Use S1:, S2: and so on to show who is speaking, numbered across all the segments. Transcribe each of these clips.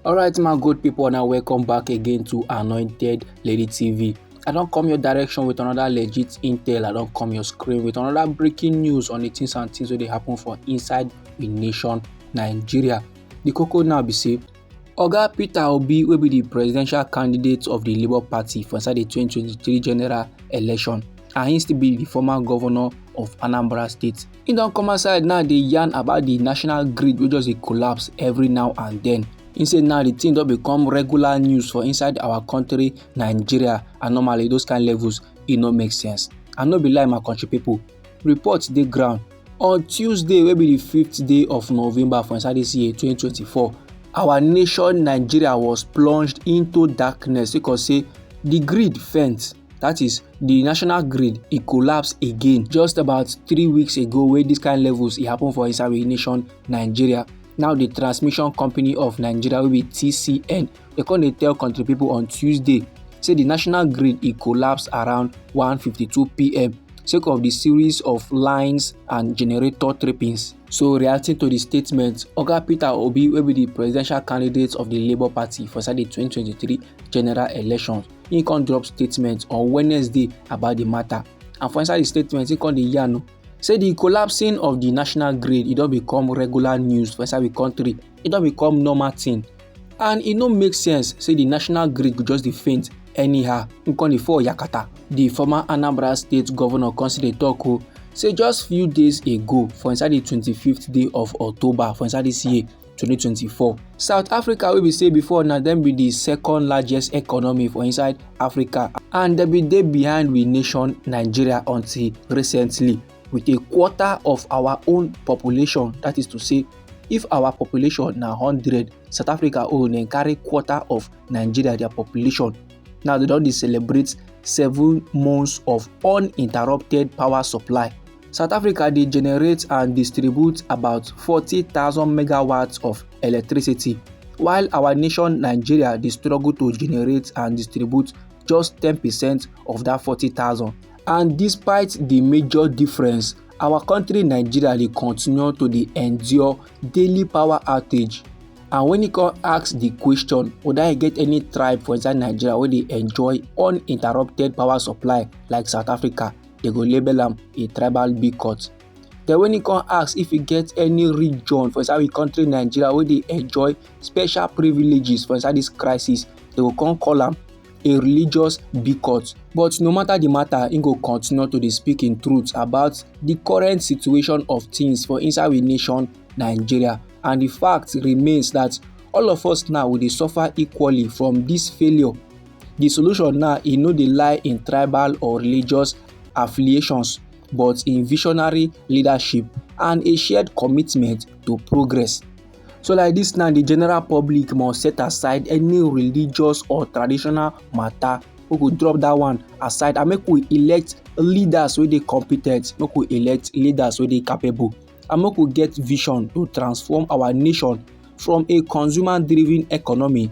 S1: alright my good people now welcome back again to anointed lady tv i don't come your direction with another legit intel i don't come your screen with another breaking news on the things and things that they happen for inside the nation nigeria the cocoa now be safe. Oga Peter Obi wey be di presidential candidate of di Labour Party for inside di 2023 general election and he still be di former governor of Anambra State. He don come outside now dey yarn about di national grid wey just dey collapse every now and then. He say now di thing don become regular news for inside our country Nigeria and normally those kind levels e no make sense. And no be lie my country people. report dey ground on tuesday wey be di fifth day of november for inside dis year 2024 our nation nigeria was plunged into darkness because say di grid fence that is the national grid e collapse again just about three weeks ago wey this kind levels e happen for inside nation nigeria now the transmission company of nigeria wey be tcn Dem come dey tell country people on Tuesday say the national grid e collapse around 1:52pm sake of the series of lines and generator trippings. So reacting to the statement, Oga Peter Obi wey be the presidential candidate of the Labour Party for inside the 2023 general elections, he come drop statement on Wednesday about the matter. And for inside the statement, he come dey yarn say the collapsing of the national grid e don become regular news for inside the country, e don become normal thing and e no make sense say di national grid go just dey faint anyhow e con dey fall yakata di former anambra state governor con still dey tok o say just few days ago for inside di 25th day of october for inside dis year 2024 south africa wey be say before na dem be di second largest economy for inside africa and dem bin dey behind we nation nigeria until recently with a quarter of our own population that is to say if our population na hundred south africa own dem carry quarter of nigeria their population now they don dey celebrate seven months of uninterrupted power supply south africa dey generate and distribute about forty thousand megawatts of electricity while our nation nigeria dey struggle to generate and distribute just ten percent of that forty thousand. And despite the major difference, our country Nigeria dey continue to dey endure daily power outage. And when you come ask the question whether I get any tribe for inside Nigeria where they enjoy uninterrupted power supply like South Africa, they go label them a tribal boycott. Then when you come ask if you get any region for inside the country Nigeria where they enjoy special privileges for inside this crisis, they will come call them a religious bigot. But no matter the matter, he go continue to dey speak in truth about the current situation of things for inside we nation Nigeria. And the fact remains that all of us now we dey suffer equally from this failure. The solution now e no dey lie in tribal or religious affiliations but in visionary leadership and a shared commitment to progress. So like this now, the general public must set aside any religious or traditional matter. We go drop that one aside and make we elect leaders wey dey competent, make we elect leaders wey dey capable and make we get vision to transform our nation from a consumer driven economy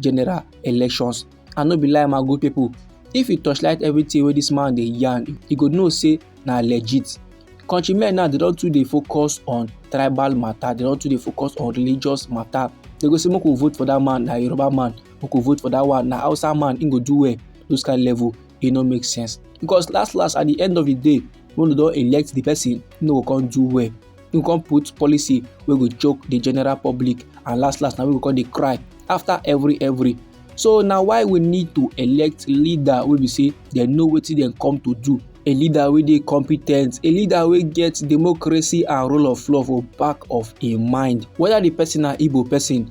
S1: general elections i no be lie my good people if you torchlight everything wey this man dey yarn you go know say na legit countrymen now dey don too dey focus on tribal matter dey don too dey focus on religious matter dey go say make we vote for that man na yoruba man make we vote for that one na hausa man him go do well those kind level e no make sense because last last at the end of the day when we don elect the person he no go come do well you come put policy wey go choke the general public and last last na we go come dey cry after every every so na why we need to elect leader wey be say dem know wetin dem come to do a leader wey dey competent a leader wey get democracy and rule of law for back of im mind whether the person na igbo person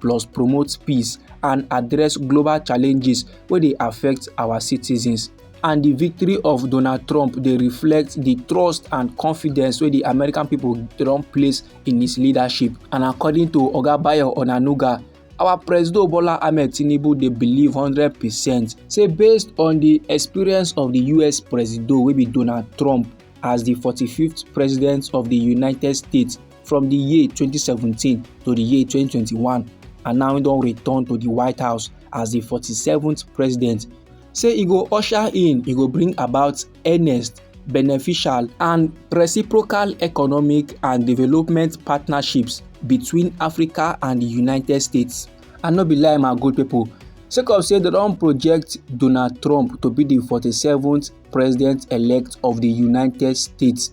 S1: plus promote peace and address global challenges wey dey affect our citizens. and di victory of donald trump dey reflect di trust and confidence wey di american pipo don place in his leadership and according to oga bayo onanuga our presido bola ahmed tinubu dey believe hundred percent say based on di experience of di us presido wey be donald trump as di forty-fiveth president of di united states from di year 2017 to di year 2021 and now e don return to di white house as di 47th president say e go usher in e go bring about earnest beneficial and reciprocal economic and development partnerships between africa and di united states and no be lie my good pipo sake of say dem don project donald trump to be di 47th president-elect of di united states.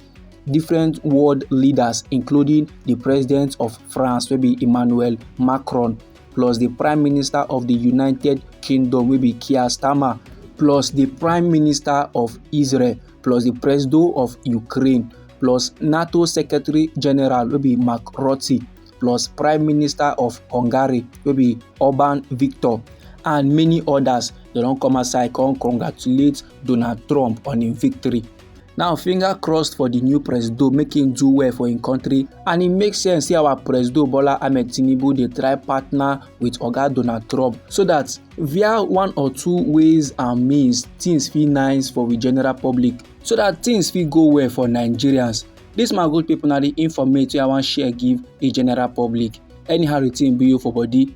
S1: different world leaders including the president of france wey be emmanuel macron plus the prime minister of the united kingdom wey be keir starmer plus the prime minister of israel plus the president of ukraine plus nato secretary general wey be mark rutte plus prime minister of hungary wey be orban victor and many others dem don come outside come congratulate donald trump on im victory now finger crossed for the new presido make him do well for him country and it makes sense say our presido bola ahmed tinubu dey try partner with oga donald trump so that via one or two ways and means things fit nice for the general public so that things fit go well for nigerians This my good people na the informate wey i wan share give the general public anyhow the thing be you for body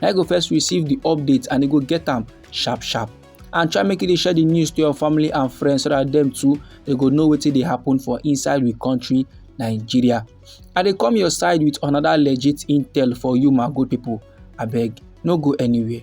S1: na you go first receive the update and you go get am sharp sharp and try make you dey share the news to your family and friends so that them too they go know wetin dey happen for inside we country nigeria i dey come your side with another legit intel for you my good people abeg no go anywhere.